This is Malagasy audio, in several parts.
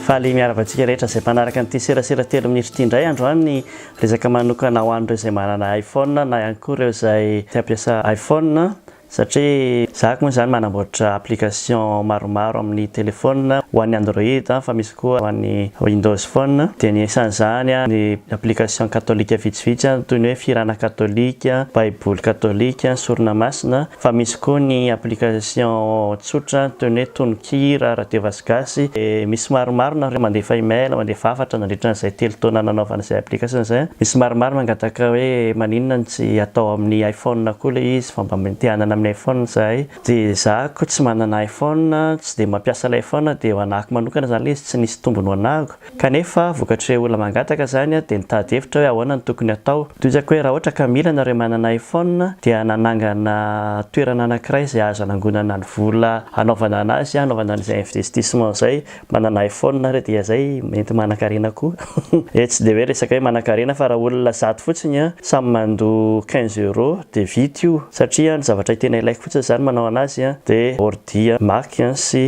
Faly miarahaba antsika rehetra izay mpanaraka an'ity serasera telo minitra ity indray androany resaka manokana ho an'ireo izay manana iPhone na ihany koa ireo izay te hampiasa iPhone satria zahako moa izany manamboatra application maromaro amin'ny téléphone ho an'ny Android fa misy Koa ho an'ny Windows Phone dia ny isan'izany ny application katolika vitsivitsy toy ny hoe Firana Katolika, Baiboly Katolika, Sorona Masina, fa misy koa ny application tsotra toy ny hoe Tononkira, Radio Vazh Gasy, dia misy maromaro nareo mandefa email, mandefa hafatra nandritra an'izay telo taona nanaovana izay application izay, misy maromaro mangataka hoe maninona no tsy atao amin'ny iPhone koa ilay izy fa mba te hanana amin'ny iPhone izahay. Dia za ko tsy manana iPhone, tsy dia mampiasa ilay iPhone dia ho anahako manokana izany ilay izy tsy nisy tombony ho anahako. Kanefa vokatr'ireo olona mangataka izany dia nitady hevitra aho hoe ahoana no tokony hatao. Tohizako hoe raha ohatra ka mila ianareo manana iPhone dia nanangana toerana anankiray izay azo anangonana ny vola hanaovana anazy, hanaovana an'izay investissement izay. Manana iPhone nareo dia zay mety manakarena koa e tsy dia hoe resaka hoe manakarena fa raha olona zato fotsiny an samy mandoa quinze euro dia vita io satria ny zavatra tena ilaiko fotsiny zany manao anazy an dia ordi mac sy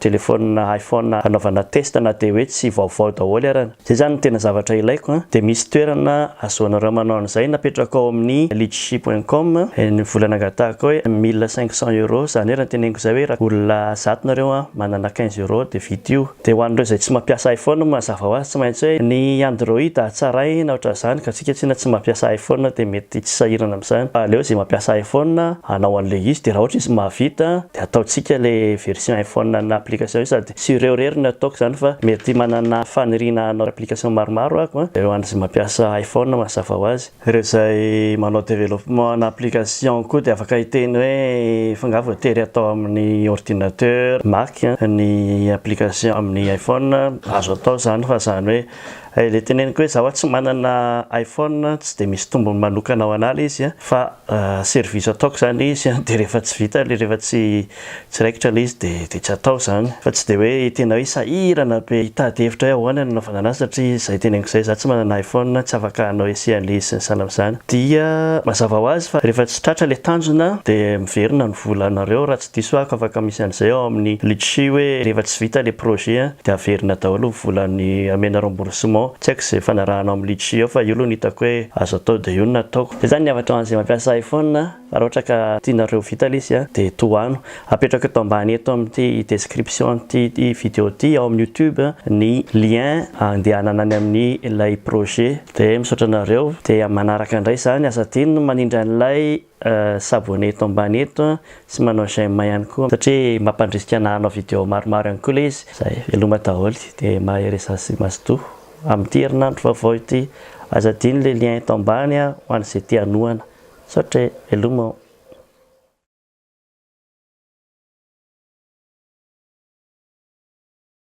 telephone iPhone hanaovana test na dia hoe tsy vaovao daholo aran Zay zany ny tena zavatra ilaiko a! Dia misy toerana ahazoanareo manao an'izay, napetrako ao amin'ny litchi point com ny vola nangatahako hoe mille cinq cents euros, zany hoe raha ny teneniko zay hoe raha olona zato nareo a, manana quinze euros dia vita io. Dia ho an'ireo izay tsy mampiasa iPhone, mazava ho azy tsy maintsy hoe ny Android hatsaraina ohatr'izany ka antsika tsinona tsy mampiasa iPhone dia mety tsy sahirana amin'izany fa aleo izay mampiasa iPhone hanao an'ilay izy dia raha ohatra izy mahavita dia ataontsika ilay version iPhone ana application io sady Tsy ireo irery no ataoko izany fa mety manana faniriana hanao application maromaro aho an, ireo an'izay mampiasa iPhone mazava ho azy. Ireo izay manao développement ana application koa dia afaka hiteny hoe fa angaha voatery atao amin'ny ordinateur Mac ny application amin'ny iPhone, azo atao izany fa izany hoe Hay le teneniko hoe za wa tsy manana iPhone tsy de misy tombony manokana ho anah le izy a fa service ataoko zany le izy de rehefa tsy vita le rehefa tsy tsy raikitra le izy de de tsy atao zany fa tsy de hoe tena hoe sahirana be hitady hevitra hoe ahoana ny anaovana anazy satria zay teneniko zay za tsy manana iPhone tsy afaka hanao ese an'le izy sy ny sahala am'zany dia mazava ho azy fa rehefa tsy tratra le tanjona de miverina ny volanareo raha Diso ako afaka misy an'izay ao amin'ny Litchi hoe rehefa tsy vita le projet an de averina daholo ny volany amena remboursement, tsy haiko izay fanarahanao amin'ny Litchi ao fa io aloha no hitako hoe azo atao de io no nataoko. Zay zany ny havatra ho an'izay mampiasa iPhone a, fa raha ohatra ka tianareo ho vita le izy a de tohano. Apetrako eto ambany eto amin'ity description-n'ity video ity ao amin'ny youtube ny lien andehanana any amin'ny ilay projet. De misaotra anareo, de manaraka indray izany, asa adino ny manindry an'ilay s'abonner eto ambany eto sy manao j'aime ihany koa satria mampandrisika ana hanao video maromaro ihany koa le izy zay veloma daholo de mahereza sy mazotoa amin'ity herinandro vaovao ity aza adino le lien eto ambany a ho an'izay te hanohana misaotra e veloma o.